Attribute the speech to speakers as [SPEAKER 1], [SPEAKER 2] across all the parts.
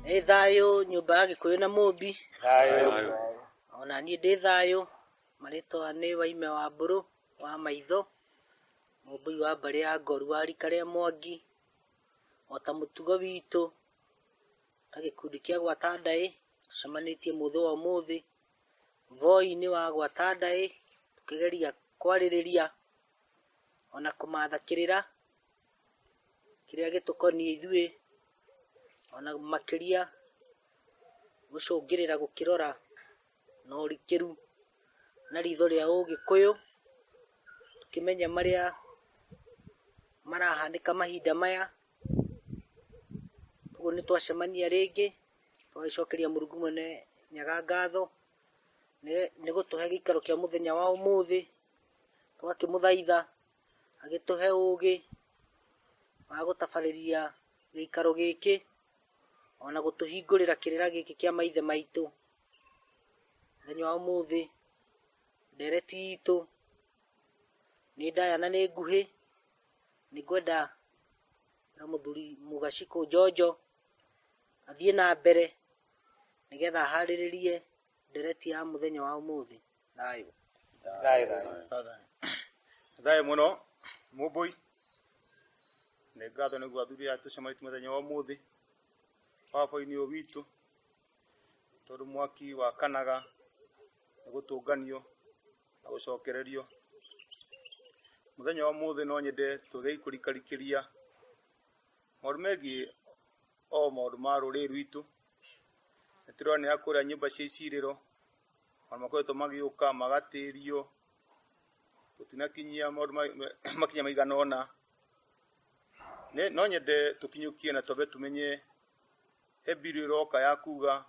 [SPEAKER 1] Nĩ thayũ nyũmba ya Gĩkũyũ na Mũmbi, ona niĩ ndĩ thayũ. Marĩtwa nĩ Waime wa Mbũrũ wa Maitho, Mũmbũi wa mbarĩ ya Ngoru wa rika rĩa Mwangi. Ota mũtugo witũ ta gĩkundi kĩa gwata ndaĩ, tũcemanĩtie mũthĩ wa ũmũthĩ. Voi-inĩ wa gwata ndaĩ, tũkĩgeria kwarĩrĩria ona kũmatha kĩrĩra kĩrĩa gĩtũkoniĩ ithuĩ, ona makĩria gũcũngĩrĩra gũkĩrora na ũrikĩru na ritho rĩa ũgĩkũyũ, tũkĩmenya marĩa marahanĩka mahinda maya, ũguo nĩ twacemania rĩngĩ. tũgagĩcokeria mũrungu mwene nyaga ngatho nĩ gũtũhe gĩikaro kĩa mũthenya wa ũmũthĩ tũgakĩmũthaitha agĩtũhe ũgĩ wa gũtabarĩria gĩikaro gĩkĩ ona gũtũhingũrĩra kĩrĩra gĩkĩ kĩa maithe maitũ mũthenya wa ũmũthĩ ndereti itũ nĩ ndaya na nĩ nguhĩ nĩ ngwenda na mũthuri mũgaciku njonjo athiĩ na mbere nĩgetha harĩrĩrie ndereti ya mũthenya wa ũmũthĩ thayũ Thayũ,
[SPEAKER 2] thayũ. thayũ mũno mũmbũi nĩ ngatho nĩguo athuri aya tũcemanĩtie mũthenya wa ũmũthĩ baba-inĩ ũyũ witũ tondũ mwaki wakanaga nĩ gũtũnganio na gũcokererio mũthenya wa ũmũthĩ no nyende twĩgei kũrikarikĩria maũndũ megiĩ o maũndũ ma rũrĩrĩ rwitũ nĩ tũronera kũrĩa nyũmba cia icirĩro maũndũ makoretwo magĩũka magatĩrio tũtinakinyia maũndũ ma- ma- makinya maigana ũna Nĩ- no nyende tũkinyũkie na twambe tũmenye he mbirũ ĩroka ya kuga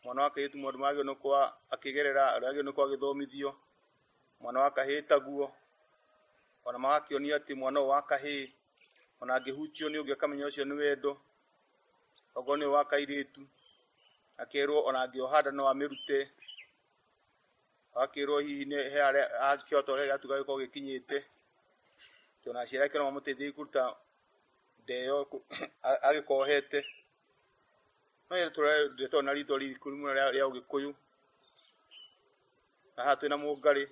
[SPEAKER 2] mwana wa kairĩtu maũndũ marĩa agĩrĩirwo nĩ gũkorwo akĩgerera ũrĩa agĩrĩirwo nĩ gũkorwo agĩthomithio mwana wa kahĩĩ taguo ona magakĩonia atĩ mwana ũyũ wa kahĩĩ ona angĩhutio nĩ ũngĩ akamenya ũcio nĩ wendo okorwo nĩ wa kairĩtu akerwo ona angĩoha nda no amĩrute akerwo hihi nĩ he arĩa angĩhota ũrĩa gĩatuga gĩkorwo gĩkinyĩte atĩ ona aciari ake no mamũteithie kũruta nda ĩyo kũ- a- agĩkohete no ĩrĩa tũrenda tondũ na rĩtwa ririku mũno rĩa rĩa ũgĩkũyũ na haha twĩna mũngarĩ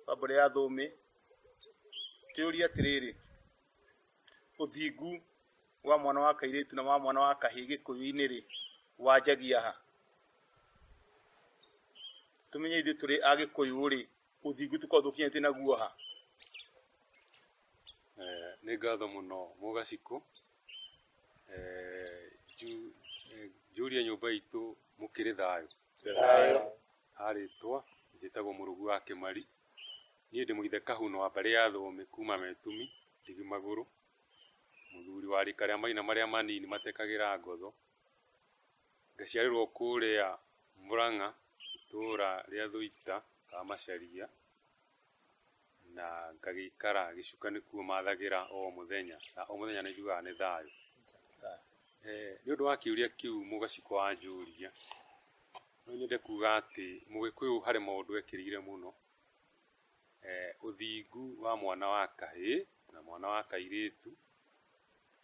[SPEAKER 2] wa mbũrĩ ya thũmĩ tĩũria atĩrĩrĩ ũthingu wa mwana wa kairĩtu na wa mwana wa kahĩ gĩkũyũ-inĩ rĩ wanjagia ha tũmenye ithuĩ tũrĩ a gĩkũyũ rĩ ũthingu tũkorwo tũkinyĩtie naguo ha
[SPEAKER 3] Eh, nĩ ngatho mũno mũgacikũ Eh, nju- eh, njũrie nyũmba itũ mũkĩrĩ thayũ Thayũ. Arĩtwa njĩtagwo Mũrũgu wa Kĩmari. Niĩ ndĩ mũithe kahuna wa mbarĩ ya Thũũmĩ kuuma Metumi, Ndigi Magũrũ. Mũthuri wa rika rĩa maina marĩa manini matekagĩra ngotho. Ngaciarĩrwo kũũrĩa Mũrang'a itũũra rĩa Thũita ka Macharia. na ngagĩikara gĩcuka nĩkuo mathagĩra o mũthenya na o mũthenya nĩ njugaga nĩ thayũ Eh, nĩ ũndũ wa kĩũria kĩu mũgaciko wanjũria no nyende kuga atĩ mũgĩkũyũ harĩ maũndũ ekĩrĩire mũno eh, ũthingu wa mwana wa kahĩĩ na mwana wa kairĩtu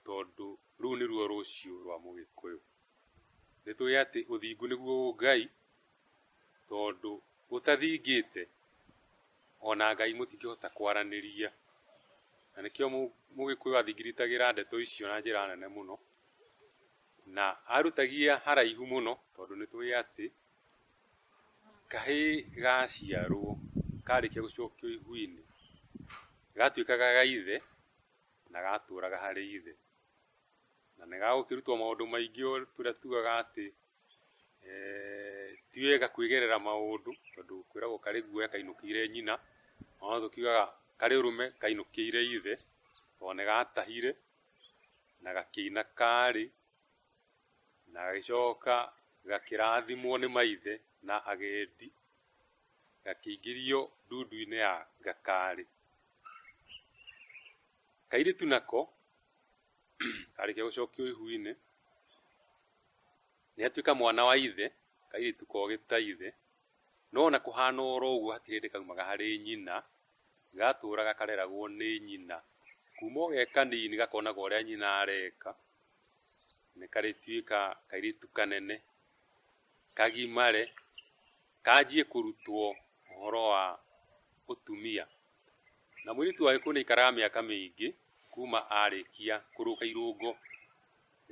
[SPEAKER 3] tondũ rũu nĩruo rũciũ rwa mũgĩkũyũ nĩ tũĩ atĩ ũthingu nĩguo ngai tondũ gũtathingĩte ona Ngai mũtingĩhota kwaranĩria, na nĩkĩo mũgĩkũyũ athingiritagĩra ndeto icio na njĩra nene mũno, na arutagia haraihu mũno tondũ nĩ tũĩ atĩ kahĩ gaciarwo karĩkia gũcokio ihu-inĩ gatuĩkaga ga ithe na gatũraga harĩ ithe. na nĩ gagũkĩrutwo maũndũ maingĩ tũrĩa tugaga atĩ ti wega kwĩgerera maũndũ tondũ kwĩragwo karĩ guoya kainũkĩire nyina, o na tũkiugaga karĩ ũrũme kainũkĩire ithe tondũ nĩ gatahire na gakĩina karĩ na gagĩcoka gakĩrathimwo nĩ maithe na agendi gakĩingĩrio ndundu-inĩ ya gakari. kairĩtu nako karĩkia gũcokio ihu-inĩ nĩ atuĩka mwana wa ithe kairĩtu kogĩ ta ithe no na kũhana oro ũguo hatirĩ hĩndĩ kaumaga harĩ nyina gatũraga kareragwo nĩ nyina kuma o ge kanini gakonaga ũrĩa nyina areka nĩ karĩtuĩka kairĩtu kanene kagimare kanjie kũrutwo ũhoro wa ũtumia Na mũirĩtu wa gĩkuũ nĩ aikaraga mĩaka mĩingĩ kuma arĩkia kũrũka irũngo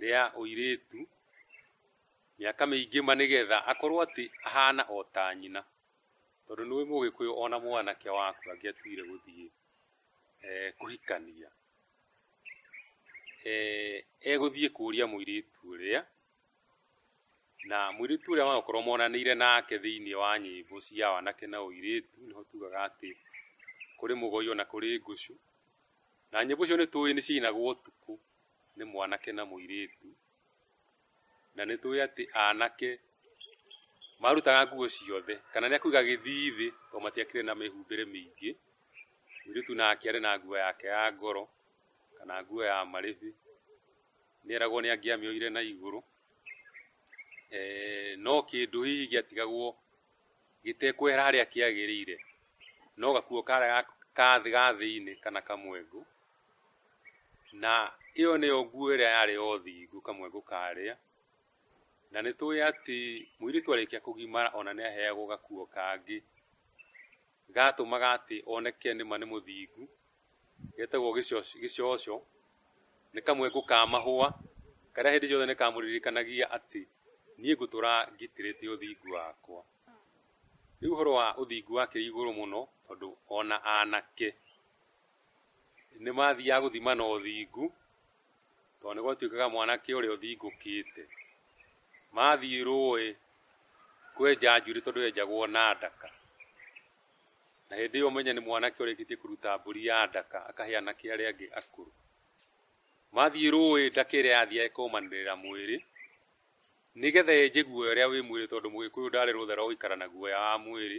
[SPEAKER 3] rĩa ũirĩtu, mĩaka mĩingĩ ma nĩgetha akorwo atĩ ahana o ta nyina. Tondũ nĩũĩ mũgĩkũyũ ona mwanake waku angĩatuire gũthiĩ kũhikania, egũthiĩ kũria mũirĩtu ũrĩa. Na mũirĩtu ũrĩa wagũkorwo monanĩire nake thĩinĩ wa nyĩmbo cia wanake na ũirĩtu, nĩho tugaga atĩ kũrĩ mũgoi ona kũrĩ ngũcũ. Na nyĩmbo icio nĩ tũĩ nĩ ciainagwo ũtukũ nĩ mwanake na mũirĩtu. Na nĩ tũĩ atĩ anake marutaga nguo ciothe, kana nĩ akuga gĩthii thĩ tondũ matiakĩrĩ na mĩhumbĩre mĩingĩ, mũirĩtu nake arĩ na nguo yake ya goro. kana nguo ya marĩbi, nĩ eragwo nĩ angĩamĩoire na igũrũ, eh, no kĩndũ hihi gĩatigagwo gĩtekwehera harĩa kĩagĩrĩire, no gakuo karĩa ka thĩ ga thĩinĩ kana kamwengu, na ĩyo nĩyo nguo ĩrĩa yarĩ o thingu kamwengu karĩa, na nĩ tũĩ atĩ mũirĩtu arĩkia kũgimara ona nĩ aheagwo gakuo kangĩ, gatũmaga atĩ oneke nĩma nĩ mũthingu, getagwo gĩcocũ, nĩ kamwe ko ka mahũa karĩa hĩndĩ ciothe nĩ kamũririkanagia atĩ niĩ ngũtũra ngitĩrĩte ũthingu wakwa. Rĩu ũhoro wa ũthingu wake wĩ igũrũ mũno tondũ ona anake nĩ mathiaga gũthima na ũthingu tondũ nĩ gwatuĩkaga mwanake ũrĩa ũthingũkĩte mathiĩ rũĩ kwenja njuĩrĩ tondũ yenjagwo na ndaka, na hĩndĩ ĩyo ũmenye nĩ mwanake ũrĩkĩtie kũruta mbũri ya ndaka akahe anake arĩa angĩ akũrũ mathiĩ rũĩ ndaka ĩrĩa yathiĩ ĩkũmanĩrĩra mwĩrĩ nĩgetha yenje guoya ũrĩa wĩ mwĩrĩ tondũ mũgĩkũyũ ndarĩ rũtha rwa gũikara na guoya wa mwĩrĩ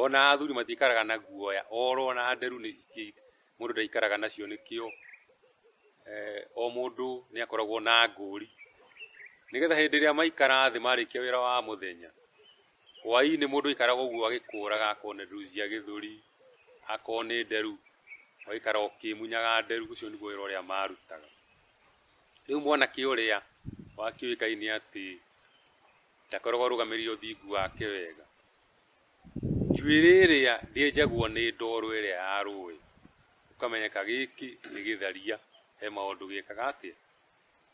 [SPEAKER 3] ona athuri matikaraga na guoya oro na nderu nĩ mũndũ ndaikaraga nacio nĩkĩo eh, o mũndũ nĩ akoragwo na ngũri nĩgetha hĩndĩ ĩrĩa maikara thĩ marĩkia wĩra wa mũthenya Hwaĩ-inĩ mũndũ aikaraga ũguo agĩkũraga akorwo nĩ nduthi cia gĩthũri, akorwo nĩ nderu, ũgaikara ũkĩmunyaga nderu, ũcio nĩguo wĩra ũrĩa marutaga. Rĩu mwanake ũrĩa wakĩũĩ Ngai nĩ atĩ ndakoragwo arũgamĩrĩire ũthingu wake wega. Njuĩrĩ ĩrĩa ndĩenjagwo nĩ ndoro ĩrĩa ya rũĩ, ũkamenyeka gĩkĩ nĩ gĩtharia, he maũndũ gĩkaga atĩa?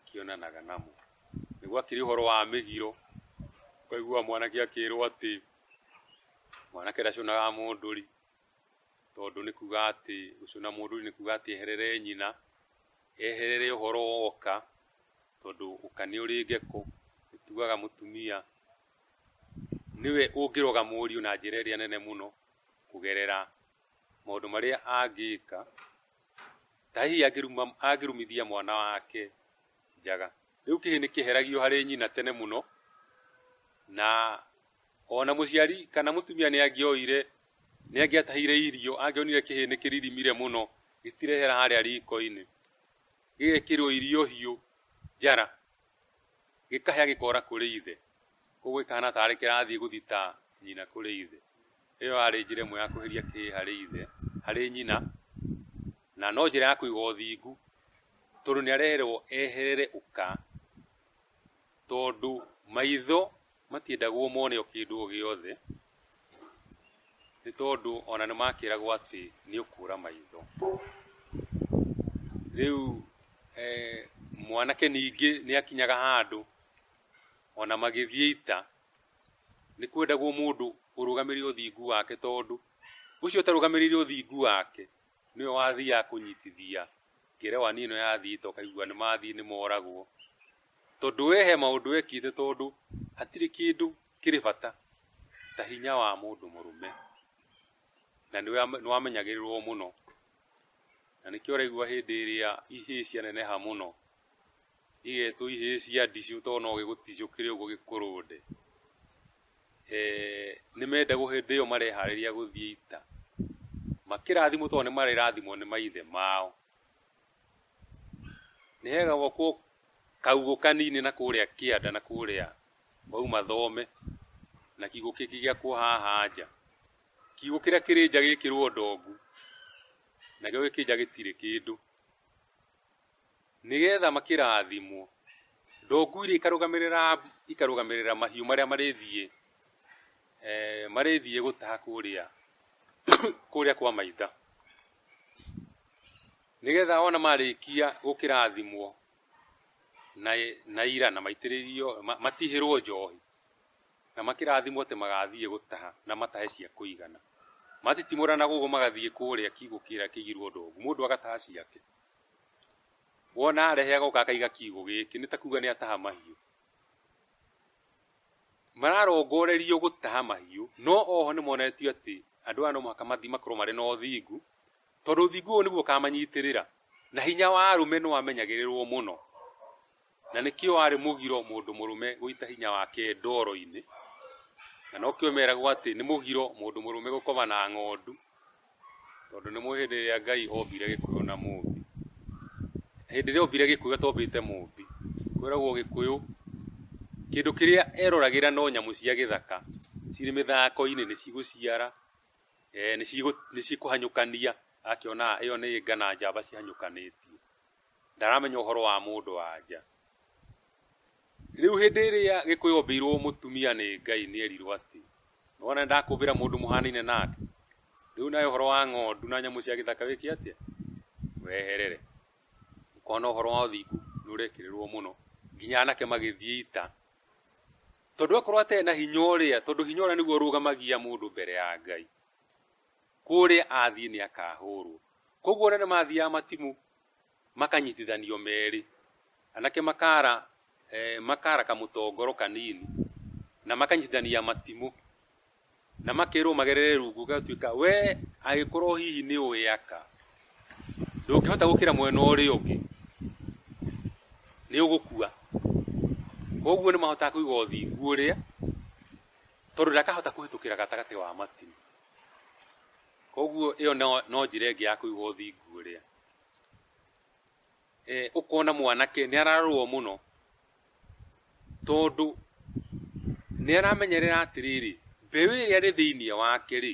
[SPEAKER 3] kĩonanaga namo nĩguo akĩrĩ ũhoro wa mĩgiro ũkaigua mwanake akĩrwo atĩ mwanake ndacunaga mũndũri tondũ nĩ kuga atĩ gũcuna mũndũri nĩ kuga atĩ eherere nyina eherere ũhoro woka tondũ ũka nĩ ũrĩ ngeko tugaga mũtumia nĩwe ũngĩroga mũriũ na njĩra ĩrĩa nene mũno kũgerera maũndũ marĩa angĩka Ta hihi angĩruma- angĩrumithia mwana wake njaga. Rĩu kĩhĩ nĩ kĩheragio harĩ nyina tene mũno, na ona mũciari kana mũtumia nĩ angĩoire, nĩ angĩatahire irio, angĩonire kĩhĩ nĩ kĩririmire mũno, gĩtirehera harĩa riko-inĩ, gĩgekĩrwo irio hiũ njara, gĩkahĩa gĩkora kũrĩ ithe koguo gĩkahana tarĩ kĩrathiĩ gũthita nyina kũrĩ ithe ĩyo arĩ njĩra ĩmwe ya kweheria kĩĩ harĩ ithe harĩ nyina na no njĩra ya kũiga ũthingu tondũ nĩ areherwo eherere ũka tondũ maitho Matiendagwo mone o kĩndũ o gĩothe, nĩ tondũ ona nĩ makĩragwo atĩ nĩ ũkũra maitho. Rĩu mwanake ningĩ nĩ akinyaga handũ ona magĩthiĩ ita, nĩ kwendagwo mũndũ ũrũgamĩrĩre ũthingu wake tondũ ũcio ũtarũgamĩrĩire ũthingu wake nĩwe wathiaga kũnyitithia kĩrewani ĩno ya thito kaigua nĩ mathiĩ nĩ moragwo tondũ we he maũndũ ekĩte tondũ hatirĩ kĩndũ kĩrĩ bata ta hinya wa mũndũ mũrũme na nĩ wamenyagĩrĩrwo mũno na nĩkĩo ũraigua hĩndĩ ĩrĩa ihĩĩ cianeneha mũno igetwo ihĩĩ cia ndicũ to no gĩgũticũkĩre ũguo gĩkũrũnde. Nĩ mende hĩndĩ ĩyo mareharĩria gũthiĩ ita, makĩrathimwo to nĩ marĩrathimwo nĩ maithe mao. Nĩ hegagwakwo kaugũ kanini na kũrĩa kĩanda na kũrĩa wauma thome, na kiugũ kĩngĩ gĩakwo haha nja. Kiugũ kĩrĩa kĩrĩ nja gĩkĩrwo ndongu, nakĩo gĩkĩ nja gĩtirĩ kĩndũ. nĩgetha makĩrathimwo, ndongu iria ikarũgamĩrĩra, ikarũgamĩrĩra mahiũ marĩa marĩthiĩ, marĩthiĩ gũtaha kũrĩa, kũrĩa kwa maitha, nĩgetha ona marĩkia gũkĩrathimwo na na ira na maitĩrĩrio, matihĩrwo njohi, na makĩrathimwo atĩ magathiĩ gũtaha na matahe cia kũigana, matitimũranaga ũguo magathiĩ kũrĩa kiugũ kĩrĩa kĩigirwo ndongu, mũndũ agataha ciake. Wona arehe agoka akaiga kiugũ gĩkĩ nĩ ta kuga nĩ ataha mahiũ. Mararongorerio gũtaha mahiũ no oho nĩ monetio atĩ andũ aya no mũhaka mathiĩ makorwo marĩ na ũthingu, tondũ ũthingu ũyũ nĩguo ũkamanyitĩrĩra na hinya wa arũme nĩ wamenyagĩrĩrwo mũno. Na nĩkĩo warĩ mũgiro mũndũ mũrũme gũita hinya wake ndoro-inĩ, na nokĩo meragwo atĩ nĩ mũgiro mũndũ mũrũme gũkoma na ng'ondu, tondũ nĩ mũĩ hĩndĩ ĩrĩa Ngai ombire gĩkũyũ na mũmbi, hĩndĩ ĩrĩa ombire gĩkũyũ atombĩte mũmbi, kwĩragwo gĩkũyũ kĩndũ kĩrĩa eroragĩra no nyamũ cia gĩthaka, cirĩ mĩthako-inĩ nĩ cigũciara, nĩ cikũhanyũkania, akĩona ĩyo nĩ nga na njamba cihanyũkanĩtie. ndaramenya ũhoro wa mũndũ anja rĩu hĩndĩ ĩrĩa gĩkũyũ ombĩirwo mũtumia nĩ ngai nĩ erirwo atĩ nĩwona ndakũmbĩra mũndũ mũhanaine nake rĩu nawe ũhoro wa ng'ondu na nyamũ cia gĩthaka wĩke atĩa weherere ũkona ũhoro wa ũthingu nĩ ũrekĩrĩrwo mũno nginya anake magĩthiĩ ita tondũ akorwo atarĩ na hinya ũrĩa tondũ hinya ũrĩa nĩguo ũrũgamagia mũndũ mbere ya ngai kũrĩa athiĩ nĩ akahũrwo koguo ona nĩ mathiaga matimũ makanyitithanio merĩ anake makara eh, makara kamũtongoro kanini na makanyitithania matimũ na makerwo magerere rungu gatuĩka we agĩkorwo hihi nĩ ũyaka ndũngĩhota gũkĩra mwena ũrĩa ũngĩ nĩ ũgũkua koguo nĩ mahotaga kũiga ũthingu ũrĩa tondũ ndakahota kũhĩtũkĩra gatagatĩ wa matimũ Koguo ĩyo no, no njĩra ĩngĩ ya kũiga ũthingu ũrĩa e, ũkona mwanake nĩ ararũo mũno tondũ nĩ aramenyerera atĩrĩrĩ mbeũ ĩrĩa rĩ thĩinĩ wake rĩ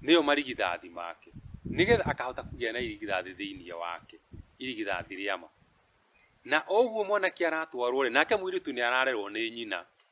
[SPEAKER 3] nĩyo marigithathi make nĩgetha akahota kũgĩa na irigithathi thĩinĩ wake irigithathi rĩa ma na oguo mwanake aratwarwo rĩ nake mũirĩtu nĩ ararerwo nĩ nyina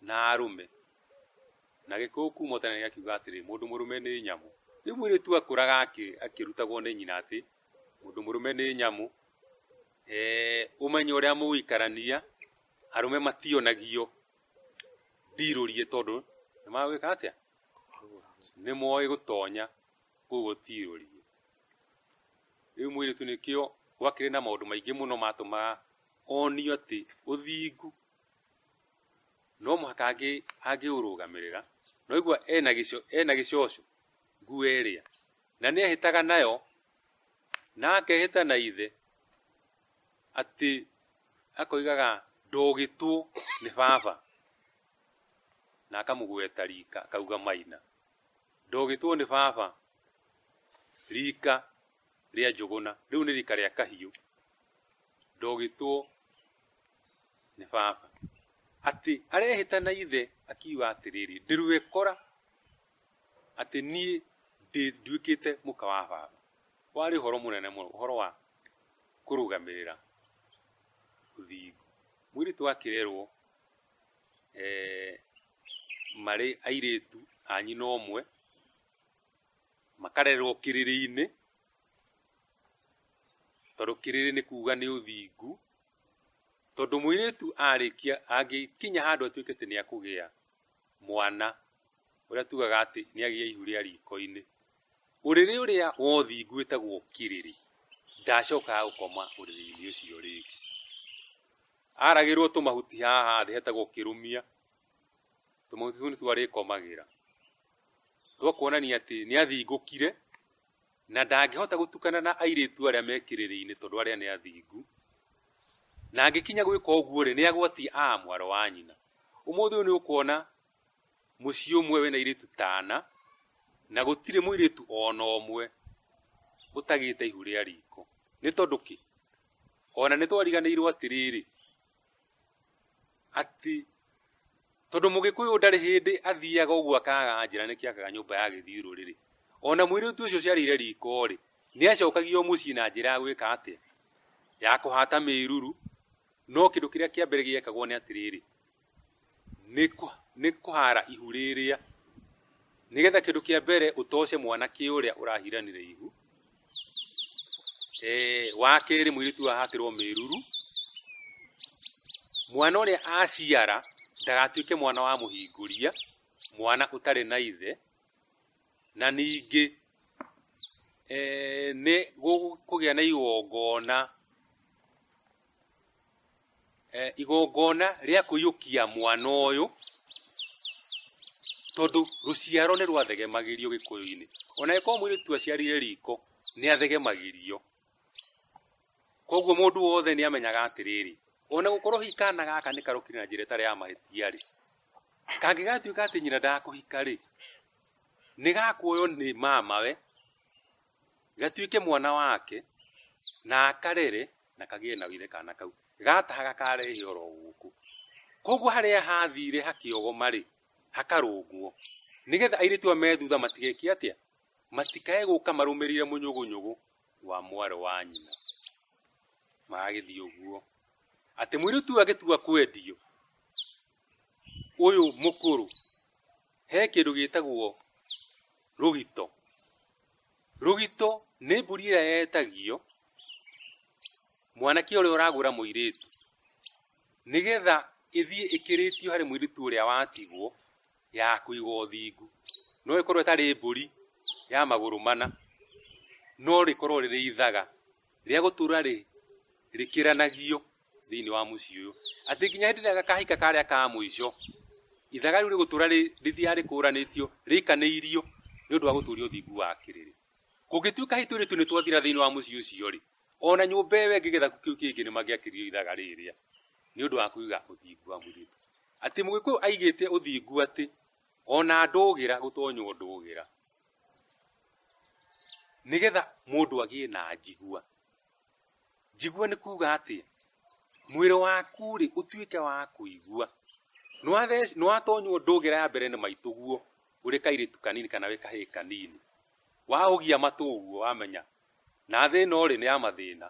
[SPEAKER 3] na arũme na gĩkũyũ kuma tene gĩakiuga atĩrĩ mũndũ mũrũme nĩ nyamũ rĩu mũirĩtu akũraga akĩ- akĩrutagwo nĩ nyina atĩ mũndũ mũrũme nĩ nyamũ eh, ũmenye ũrĩa mũgũikarania arũme mationagio ndirũrie tondũ nĩ magwĩka atĩa nĩ moĩ gũtonya koguo tirũrie rĩu mũirĩtu nĩkĩo gwakĩrĩ na maũndũ maingĩ mũno matũmaga onio atĩ ũthingu no mũhaka angĩ angĩũrũgamĩrĩra na ũigua ena gĩco ena gĩcoco nguo ĩrĩa na nĩ ehĩtaga nayo na akehĩta na ithe atĩ akoigaga ndogĩtwo nĩ baba na akamũgweta rika akauga maina ndogĩtwo nĩ baba rika rĩa Njũgũna, rĩu nĩ rika rĩa Kahiũ, ndogĩtwo nĩ baba, atĩ arehĩta na ithe akiuga atĩrĩrĩ, ndĩrwĩkora atĩ niĩ nduĩkĩte mũka wa baba. Warĩ ũhoro mũnene mũno, ũhoro wa kũrũgamĩrĩra ũthingu. Mũirĩtu akĩrerwo eh, marĩ airĩtu a nyina ũmwe, makarerwo kĩrĩrĩ-inĩ tondũ kĩrĩrĩ nĩ kuga nĩ ũthingu tondũ mũirĩtu arĩkia angĩkinya handũ atuĩke atĩ nĩ akũgĩa mwana ũrĩa tugaga atĩ nĩ agĩa ihu rĩa riko-inĩ ũrĩrĩ ũrĩa wa ũthingu wĩtagwo kĩrĩrĩ ndacokaga gũkoma ũrĩrĩ-inĩ ũcio rĩngĩ aragĩrwo tũmahuti haha thĩ hetagwo kĩrũmia tũmahuti tũu nĩ twarĩkomagĩra twa kuonania atĩ nĩ athingũkire na ndangĩhota gũtukana na airĩtu arĩa mekĩrĩrĩinĩ tondũ arĩa nĩ athingu na angĩkinya gwĩka ũguo rĩ nĩ agwati a mwaro wa nyina ũmũthĩ ũyũ nĩ ũkuona mũciĩ ũmwe wĩna airĩtu tana na gũtirĩ mũirĩtu ona ũmwe ũtagĩte ihu rĩa riko nĩ tondũ kĩ ona nĩ twariganĩirwo atĩrĩrĩ atĩ tondũ mũgĩkũyũ ndarĩ hĩndĩ athiaga ũguo akaga njĩra nĩkĩ akaga nyũmba ya gĩthiũrũ rĩrĩ ona mwĩrĩtu ũcio ũciarĩire riko rĩ nĩ acokagia o mũciĩ na njĩra ya gwĩka atĩa ya kũhata mĩruru no kĩndũ kĩrĩa kĩa mbere gĩekagwo nĩ atĩrĩrĩ nĩ kũhara ihu rĩrĩa nĩgetha kĩndũ kĩa mbere ũtoce mwanake ũrĩa ũrahiranire ihu Eh, wa kerĩ mũirĩtu ũyũ ahatĩrwo mĩruru mwana ũrĩa aciara ndagatuĩke mwana wa mũhingũria mwana ũtarĩ na ithe na ningĩ eh, nĩ gũkũgĩa na igongona eh, igongona rĩa kũiyũkia mwana ũyũ tondũ rũciaro nĩ rwathegemagĩrio gĩkũyũ-inĩ ona ĩkorwo mwĩrĩtu aciarire riko nĩ athegemagĩrio koguo mũndũ wothe nĩ amenyaga atĩrĩrĩ ona gũkorwo hihi kana gaka nĩ karũkire na njĩra ĩtarĩ ya mahĩtia rĩ kangĩgatuĩka atĩ nyina ndakũhika rĩ nĩ gakuoywo nĩ mamawe gatuĩke mwana wake na akarere na kagĩe na wire kana kau gataha gakarehe oro gũkũ koguo harĩa hathire hakĩogoma-rĩ hakarũngwo nĩgetha airĩtu aya me thutha matigeke atĩa matikae gũka marũmĩrĩire mũnyũgũnyũgũ wa mwarĩ wa nyina magagĩthiĩ ũguo atĩ mũirĩtu ũyũ agĩtua kwendio ũyũ mũkũrũ he kĩndũ gĩtagwo rũgito Rũgito nĩ mbũri ĩrĩa yetagio mwanake ũrĩa ũragũra mũirĩtu nĩgetha ĩthiĩ ĩkĩrĩtio harĩ mũirĩtu ũrĩa watigwo ya kũiga ũthingu. No ĩkorwo ĩtarĩ mbũri ya magũrũ mana, no rĩkorwo rĩrĩ ithaga. rĩa gũtũra rĩ rĩkĩranagio thĩinĩ wa mũciĩ ũyũ atĩ nginya hĩndĩ ĩrĩa gakahika karĩa ka mũico ithaga rĩu rĩgũtũra rĩthiaga rĩkũranĩtio rĩikanĩirio nĩ ũndũ wa gũtũria ũthingu wa kĩrĩrĩ kũngĩtuĩka hĩtũ rĩtu nĩ twathira thĩinĩ wa mũciĩ ũcio rĩ ona nyũmba ĩyo ĩngĩ gĩthaku kĩu kĩngĩ nĩ mangĩakĩrio ithaga rĩrĩa nĩ ũndũ wa kũiga ũthingu wa mũirĩtu atĩ mũgĩkũyũ aigĩte ũthingu atĩ ona ndũgĩra gũtonywo ndũgĩra nĩgetha mũndũ agĩe na njigua njigua nĩ kuga atĩ mwĩrĩ waku rĩ ũtuĩke wa kũigua Nĩwathec- nĩwatonywo ndũgĩra ya mbere nĩ maitũ guo ũrĩ kairĩtu kanini kana wĩ kahĩĩ kanini waũgia matũ ũguo wamenya na thĩna ũrĩ nĩ ya mathĩna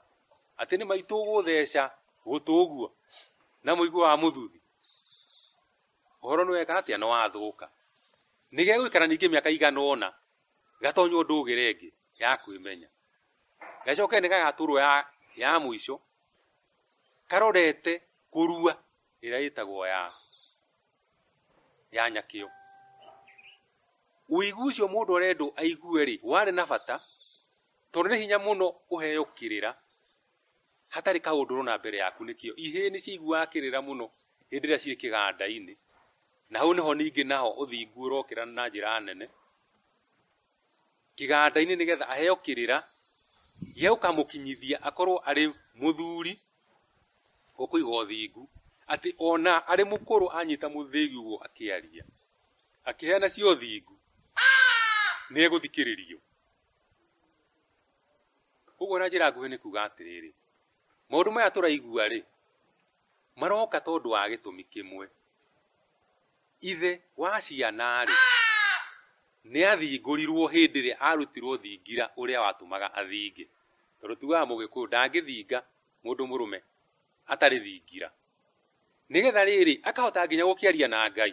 [SPEAKER 3] atĩ nĩ maitũ ũgũtheca gũtũ ũguo na mũigua wa mũthuthi ũhoro nĩ weka atĩa nĩ wathũka nĩ gegũikara ningĩ mĩaka igana ũna gatonywo ndũgĩre ĩngĩ ya kwĩmenya gacoke nĩ gagatũrwo ya, ya mũico karorete kũrua ĩrĩa ĩtagwo ya ya nyakĩo ũigu ũcio mũndũ arendwo aigue rĩ warĩ na bata tondũ nĩ hinya mũno ũheo kĩrĩra hatarĩ kaũndũ ũrona mbere yaku nĩkĩo ihĩĩ nĩ ciiguaga kĩrĩra mũno hĩndĩ ĩrĩa ciĩ kĩganda-inĩ na hau nĩho ningĩ naho ũthingu ũrokĩra na njĩra nene kĩganda-inĩ nĩgetha aheo kĩrĩra gĩa gũkamũkinyithia akorwo arĩ mũthuri ũkũiga ũthingu atĩ ona arĩ mũkũrũ anyita mũthĩgi ũguo akĩaria akĩheana cia ũthingu nĩ egũthikĩrĩrio. Ũguo na njĩra nguhĩ nĩ kuga atĩrĩrĩ, maũndũ maya tũraigua rĩ, maroka tondũ wa gĩtũmi kĩmwe. Ithe wa ciana rĩ, nĩ athingũrirwo hĩndĩ ĩrĩa arutirwo thingira ũrĩa watũmaga athinge. Tondũ tugaga mũgĩkũyũ ndangĩthinga mũndũ mũrũme atarĩ thingira. Nĩgetha rĩrĩ, akahota nginya gũkĩaria na Ngai.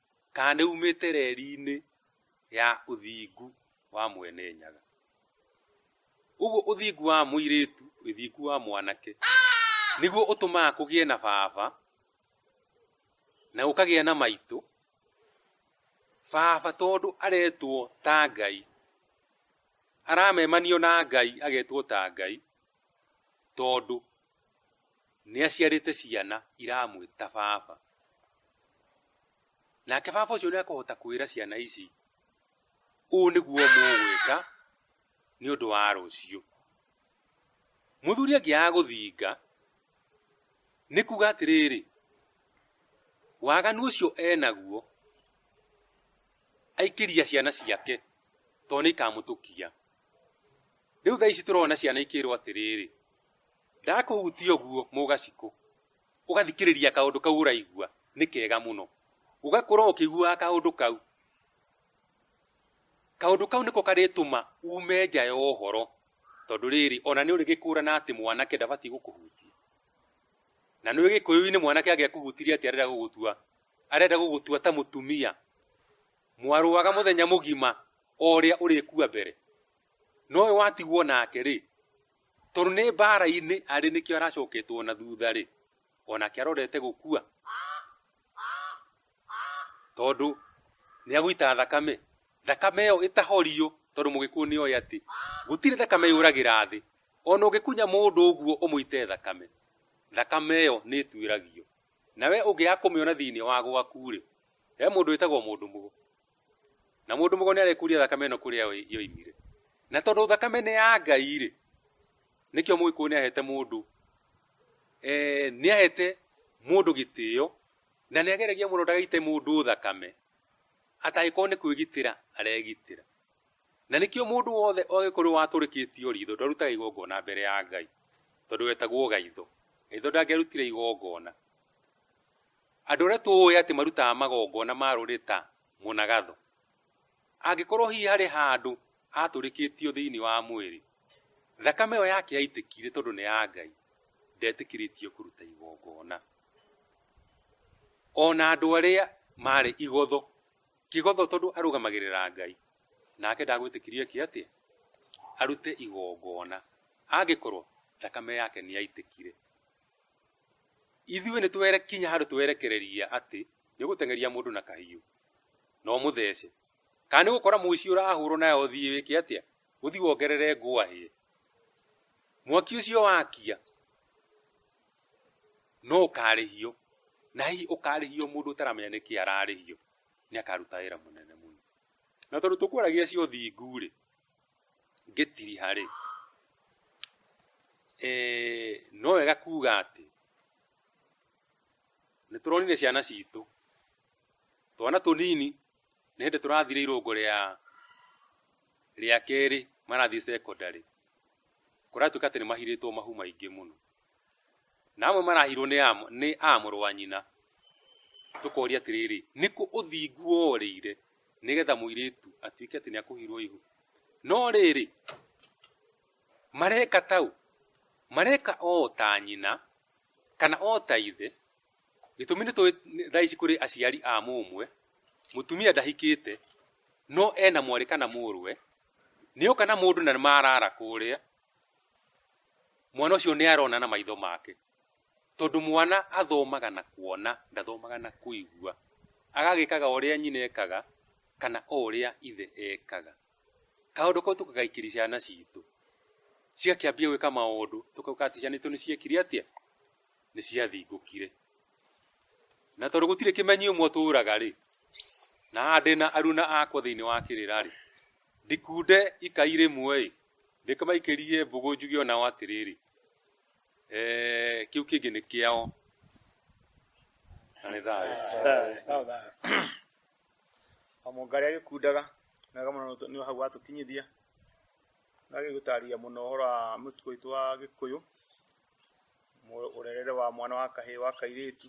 [SPEAKER 3] kana nĩ umĩte reri-inĩ ya ũthingu wa Mwene Nyaga. Ũguo ũthingu wa mũirĩtu, ũthingu wa mwanake, nĩguo ũtũmaga kũgĩe na baba, na gũkagĩa na maitũ. Baba tondũ aretwo ta Ngai, aramemanio na Ngai agetwo ta Ngai, tondũ nĩ aciarĩte ciana iramwĩta baba nake baba ũcio nĩ akũhota kwĩra ciana ici ũũ nĩguo mũgwĩka nĩ ũndũ wa rũciũ mũthuri angĩaga gũthinga nĩ kuga atĩrĩrĩ waganu ũcio enaguo aikĩria ciana ciake tondũ nĩ ikamũtũkia rĩu thaa ici tũrona ciana ikĩrwo atĩrĩrĩ ndakũhutia ũguo mũgacikũ ũgathikĩrĩria kaũndũ kau ũraigua nĩ kega mũno ũgakorwo ũkĩiguaga kaũndũ kau kaũndũ kau nĩko karĩtũma ume nja ya ũhoro tondũ rĩrĩ ona nĩ ũrĩgĩkũrana atĩ mwanake ndabatiĩ gũkũhutia na nĩ gĩkũyũ-inĩ mwanake angĩakũhutirie atĩ arenda gũgũtua arenda gũgũtua ta mũtumia mwarũaga mũthenya mũgima o ũrĩa ũrĩkua mbere nowe watigwo nake rĩ tondũ nĩ mbara-inĩ arĩ nĩkĩo aracoketwo na thutha rĩ onake arorete gũkua tondũ nĩ agũita thakame thakame ĩyo ĩtahorio tondũ mũgĩkũyũ nĩ oĩ atĩ gũtirĩ thakame yũragĩra thĩ ona ũngĩkunya mũndũ ũguo ũmũite thakame thakame ĩyo nĩ ĩtuĩragio nawe ũngĩaga kũmĩona thĩinĩ wa gwaku rĩ he mũndũ wĩtagwo mũndũ mũgo na mũndũ mũgo nĩ arekuria thakame ĩno kũrĩa yoimire na tondũ thakame nĩ ya ngai rĩ nĩkĩo mũgĩkũyũ nĩ ahete mũndũ eh, nĩ ahete mũndũ gĩtĩo na nĩ ageragia mũno ndagaite mũndũ thakame atagĩkorwo nĩ kwĩgitĩra aregitĩra na nĩkĩo mũndũ wothe ogĩkorwo watũrĩkĩtio ritho ndarutaga igongona mbere ya ngai tondũ wetagwo gaitho gaitho ndangĩarutire igongona Andũ arĩa tũũĩ atĩ marutaga magongona ma rũrĩrĩ ta mũnagatho, angĩkorũo hihi harĩ handũ aatũrĩkĩtio thĩinĩ wa mwĩrĩ, thakame ĩyo yake yaitĩkire tondũ nĩ ya Ngai, ndetĩkĩrĩtio kũruta igongona. O na andũ arĩa maarĩ igotho, kĩgotho tondũ arũgamagĩrĩra Ngai, nake ndagwĩtĩkirie eke atĩa? Arute igongona, angĩkorũo thakame yake nĩ yaitĩkire. ithuĩ nĩ twerekinya handũ twerekereria atĩ nĩ gũteng'eria mũndũ na kahiũ na ũmũthece kana nĩ gũkora mũici ũrahũrwo nayo ũthiĩ wĩke atĩa ũthiĩ wongerere ngwahĩe mwaki ũcio wakia no ũkarĩhio na hihi ũkarĩhio mũndũ ũtaramenya nĩkĩ ararĩhio nĩ akaruta wĩra mũnene mũno na tondũ tũkwaragia cio thingu rĩ gĩtiriha-rĩ eh, no wega kuga atĩ nĩ tũronire ciana citũ twana tũnini nĩ hĩndĩ tũrathire irũngo rĩa rĩa kerĩ marathiĩ secondary kũratuĩka atĩ nĩ mahirĩtwo mahu maingĩ mũno na amwe marahirwo nĩ a- nĩ a mũrũ wa nyina tũkoria atĩrĩrĩ nĩ kũ ũthingu worĩire nĩgetha mũirĩtu atuĩke atĩ nĩ akũhirwo ihu no rĩrĩ mareka tau mareka o ta nyina kana o ta ithe gĩtũmi nĩ tũĩ nĩ- thaa ici kũrĩ aciari a mũmwe mũtumia ndahikĩte no ena mwarĩ kana mũrũwe nĩ oka na mũndũ na marara kũrĩa mwana ũcio nĩ arona na maitho make tondũ mwana athomaga na kuona ndathomaga na kũigua agagĩkaga ũrĩa nyina ekaga kana o ũrĩa ithe ekaga kaũndũ kau tũkagaikiri ciana citũ ciakĩambia gwĩka maũndũ tũkauga atĩ ciana itũ nĩ ciekire atĩa nĩ ciathingũkire na tondũ gũtirĩ kĩmenyi ũmwe ũtũraga rĩ na haha ndĩna aruna akwa thĩinĩ wa kĩrĩra rĩ ndikunde ikai rĩmwe-ĩ ndĩkĩmaikĩrie mbũgũ njuge onao atĩrĩrĩ eh, kĩu kĩngĩ nĩ kĩao na nĩ thayũ
[SPEAKER 2] amũngarĩa gĩkundaga mega mũno nĩ hau watũkinyithia na gĩgũtarĩria mũno ũhoro wa mũtugo witũ wa gĩkũyũ mu- ũrerere wa mwana wa kahĩĩ wa kairĩtu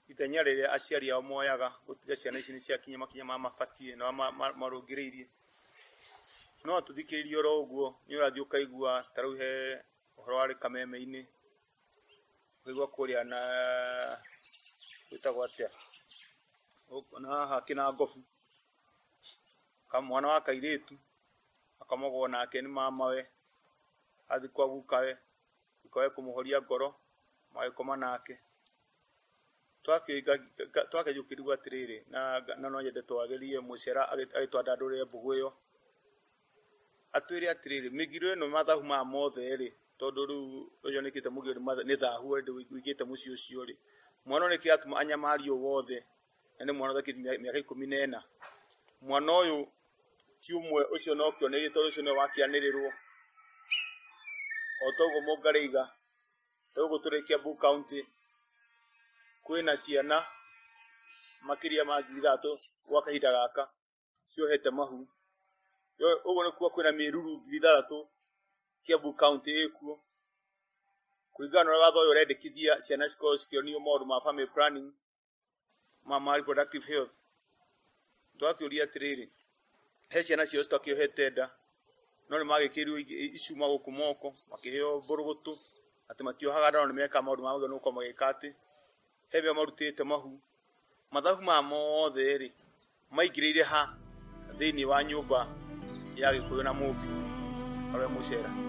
[SPEAKER 2] Itanya rĩrĩa aciari ao moyaga gũtiga ciana ici nĩ ciakinya makinya ma mabatiĩ na ma- ma- marũngĩrĩirie no atũthikĩrĩrie oro ũguo nĩ ũrathiĩ ũkaigua ta rĩu he ũhoro warĩ kameme-inĩ ũkaigua kũrĩa na gwĩtagwo atĩa Gũkũ- na haha kĩna ngobu Ka- mwana wa kairĩtu akamogwo nake nĩ mamawe athiĩ kwa gukawe ndũkae kũmũhoria ngoro magĩkoma nake twakĩjũkĩrigwo atĩrĩrĩ na na no nyende twagerie mũcera agĩtwandandũrĩre mbũgũ ĩyo atwĩre atĩrĩrĩ mĩgiro ĩno mathahu maya mothe rĩ tondũ rĩu ũyũ nĩkĩte mũgiro nĩ matha- nĩ thahu wĩkĩte mũciĩ ũcio rĩ mwana nĩkĩ atuma anyamario wothe na nĩ mwana ũthakĩte mĩaka ikũmi na ĩna mwana ũyũ ti ũmwe ũcio no kĩonereria tondũ ũcio nĩwe wakĩanĩrĩrwo o toguo mũngarĩiga toguo tũrĩkia Kiambu county kwĩna ciana makĩria ma ngiri ithatũ gwa kahinda gaka ciohete mahu Yo- ũguo nĩ kuga kwĩna mĩruru ngiri ithathatũ Kiambu county ĩkuo kũringana na ũrĩa watho ũyũ ũrendekithia ciana cikorwo cikĩonio maũndũ ma family planning ma marĩ productive health twakĩũria atĩrĩrĩ he ciana ciao citakĩohete nda no nĩ magĩkĩrirwo icuma gũkũ moko makĩheo mbũrũgũtũ atĩ matiohaga nda no nĩ mekaga maũndũ marĩa magĩrĩirwo gũkorwo magĩka atĩ he veo marutĩte mahu mathabu maya mothe rĩ maingĩrĩire ha thĩinĩ wa nyũmba ya gĩkũyũ na mũmbi arĩa mũcera